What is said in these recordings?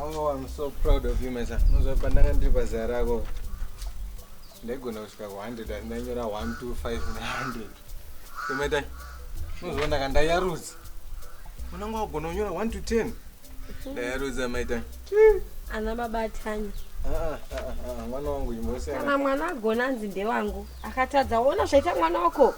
Oh, I'm so proud of you, Mesa. Unozwa pandanga ndiri pazera rako. Ndaigona kusvika ku 100 asi ndanyora 1 2 5 900. Kumeta. Unozwa ndaka ndayarudza. Unanga wagona kunyora 1 to 10. Ndayarudza maita. Ana baba Tanya. Ah, ah, ah, ah, mwana wangu imbosiyana. Kana mwana agona anzi ndewangu. Akatadza woona zvaita mwana wako.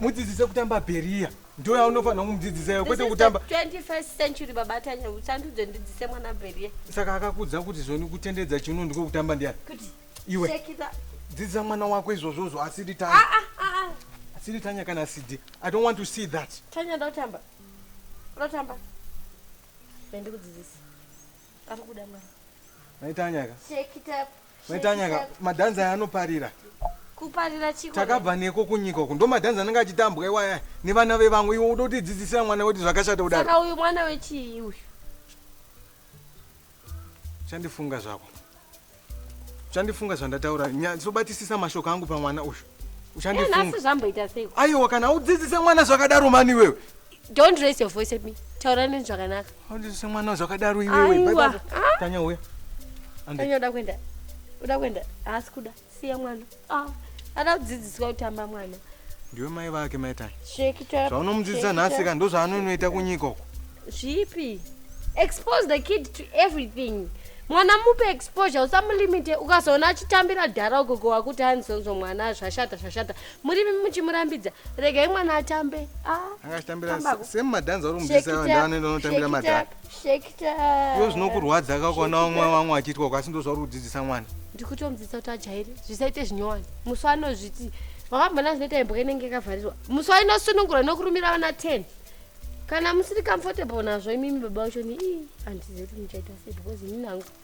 mudzidzise kutamba bheriya ndo yaunofanira kumudzidzisa kwete kutamba 21st century baba tanya uchandiudze ndidzise mwana bheriya saka akakudza kuti zvoni kutendedza chiuno ndiko kutamba ndiyani iwe dzidzisa mwana wako izvozvozvo asiri tanya ah, ah, ah, asiri tanya kana sidi i don't want to see that tanya ndotamba ndotamba ndikudzidzisa ari kuda mwana maitanyaka Maitanyaka, madhanza aya anoparira. Kuparira chiko. Takabva neko kunyika uku. Ndomadhanza anenge achitambwa iwaya nevana vevamwe. Iwe uda kutidzidzisira mwana wedu zvakashata kudaro. Saka uyu mwana wechii uyu? Chandifunga zvako. Chandifunga zvandataura. Nyatsobatisisa mashoko angu pamwana uyu. Uchandifunga. Asi zvamboita sei? Aiwa kana udzidzise mwana zvakadaro mani wewe. Don't raise your voice at me. Taura neni zvakanaka. Handisi mwana zvakadaro iwewe. Bye bye. Tanya uya. Tanya uda kuenda. Uda kuenda. Haasi kuda. Siya mwana. Ah. Ada kudzidziswa kutamba mwana. Ndiwe mai vake mai Tanya. Shekita. Zvaunomudzidzisa nhasi ka ndozvaanonoita kunyika uko. Zvipi? Expose the kid to everything. Mwana mupe exposure usamulimite ukazoona achitambira dhara ugogo wakuti hanzonzo mwana zvashata zvashata murimi muchimurambidza regai mwana atambe ah, angachitambira same madhanza uri kumudisa vanhu vanoenda vanotambira madhara iyo zvinokurwadza ka ukaona vamwe vamwe vachiitwa kwasi ndo zvauri kudzidzisa mwana ndikutomudzidzisa kuti ajaire zvisaite zvinyowani musi anozviti wakambona zvinoita imboka inenge yakavharirwa musi wainosunungura nokurumira vana ten kana musiri comfortable nazvo imimi baba vacho ni ii handizivi kuti muchaita sei because ini nangu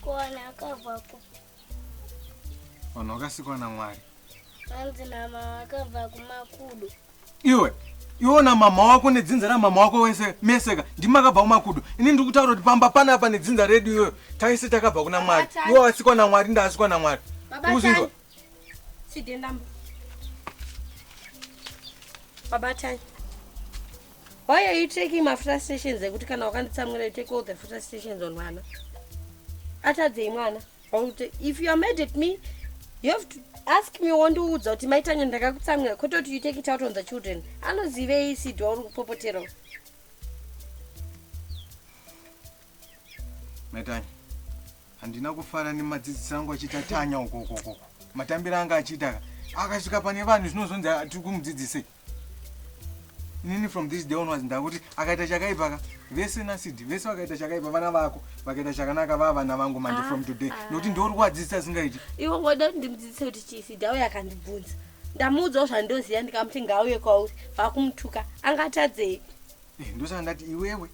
Kuwana akabva kupi? Vanhu vakasikwa naMwari. Vanzi mama vakabva kumakudo. Iwe iwe na mama wako nedzinza ramama wako wese meseka ndimi makabva kumakudo ini ndiri kutaura kuti pamba panapa nedzinza redu iyoyo taise takabva kuna mwari iwe wasikwa namwari ndaasikwa namwari uzinzwa Chidendamba. Baba Tanya. Why are you taking my frustrations ekuti kana wakanditsamwira you take all the frustrations on mwana? Atadzei mwana? If you are mad at me, you have to ask me wondiudza kuti mai Tanya ndakakutsamwira kwete kuti you take it out on the children. Anozivei Sidi wauri kupopoterwa? Maitanya, handina kufara nemadzidzisi angu achiita tanya uko uko uko. Matambiro anga achiita akasvika pane vanhu zvinozonzi tiri kumudzidzisei. Inini from this day onwards ndakuti akaita chakaipa ka vese nasidi vese vakaita chakaipa vana vako vakaita chakanaka vava vana vangu manje from today ah. nokuti ndiuri kuvadzidzisa asingaiti. Iwe ngoda kuti ndimudzidzise kuti chii sidi auya akandibvunza ndamuudzawo zvandoziva ndikamuti ngauye kwauri vakumutuka angatadzei Eh, ndosaka ndati iwewe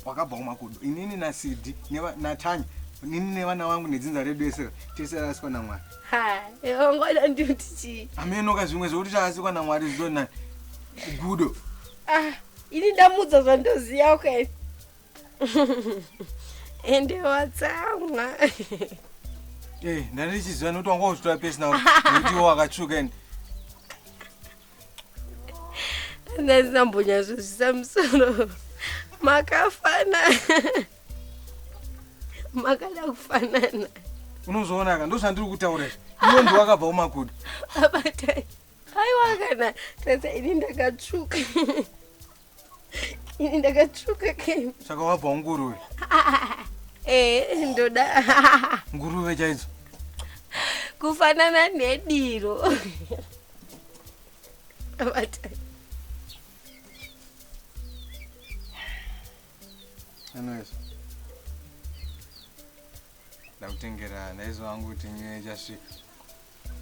wakabva kumakudo inini nasidi natanya nini nevana vangu nedzinza redu esera tese rasikwa namwari ongoda ndiuti chii amenoka zvimwe zvekuti tarasikwa namwari zvinonani kugudo ah, ini ndamudza zvandoziva ukaini ende watsamwa eh, ndandichiziva nokuti wanga uzvitora pesi nao nekuti iwo wakatsvuka ende ndazina mbonyazvozvisa musoro makafana makada kufanana unozoonaka ndozvandiri kutaura izvi iwe ndiwakabva umakuda abatai aiwa kana tata ini ndakatsvuka ini ndakatsvuka kem saka wabva unguruve ee ndoda nguruve chaidzo kufanana nediro anyways ndakutengera ndaizo wangu kuti nyuye ichasvika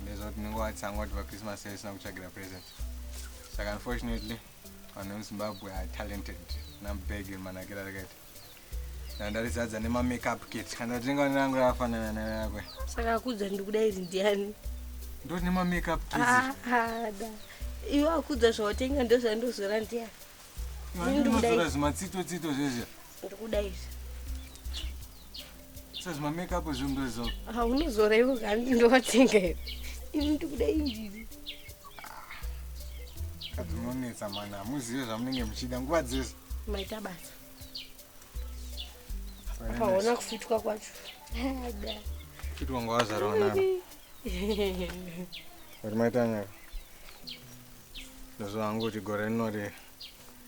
ndaizo kuti ndingowatsanga kuti vachristmas yaisina kutsvagira present saka unfortunately Vanhu vemuZimbabwe are talented. Nambeg manakira rakaita. Ndandarizadza nema makeup kit. Kana tinenge vana rangu rakafanana nerakwe. Saka akudza ndikuda iri ndiani? Ndoti nema makeup kit. Ah, ah, da. Iwe akudza zvawatenga ndozvandozora ndiani? Ndiri kuda Ndozora iri. zvimatsito tsito zvezve. ndikuda izvi sasa ma make up zvinhu ndozora ah unozora iwe kani ndowatenga iwe ini ndikuda izvi kadzinonetsa mwana hamuzive zvamunenge muchida nguva dzese maita basa apaona kufitwa kwacho fitwa nguva wazvarwa navo uri maita nyaya ndozvahangu kuti gore rinorira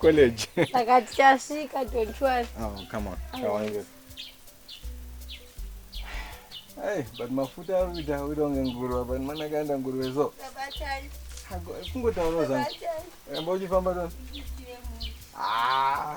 college saka tichasvika don't worry oh come on kawange Hey, but mafuta ari kuita kuita kunge nguruva but mwana akaenda nguruve so kungotaura zvangu amba uchifamba tona ah.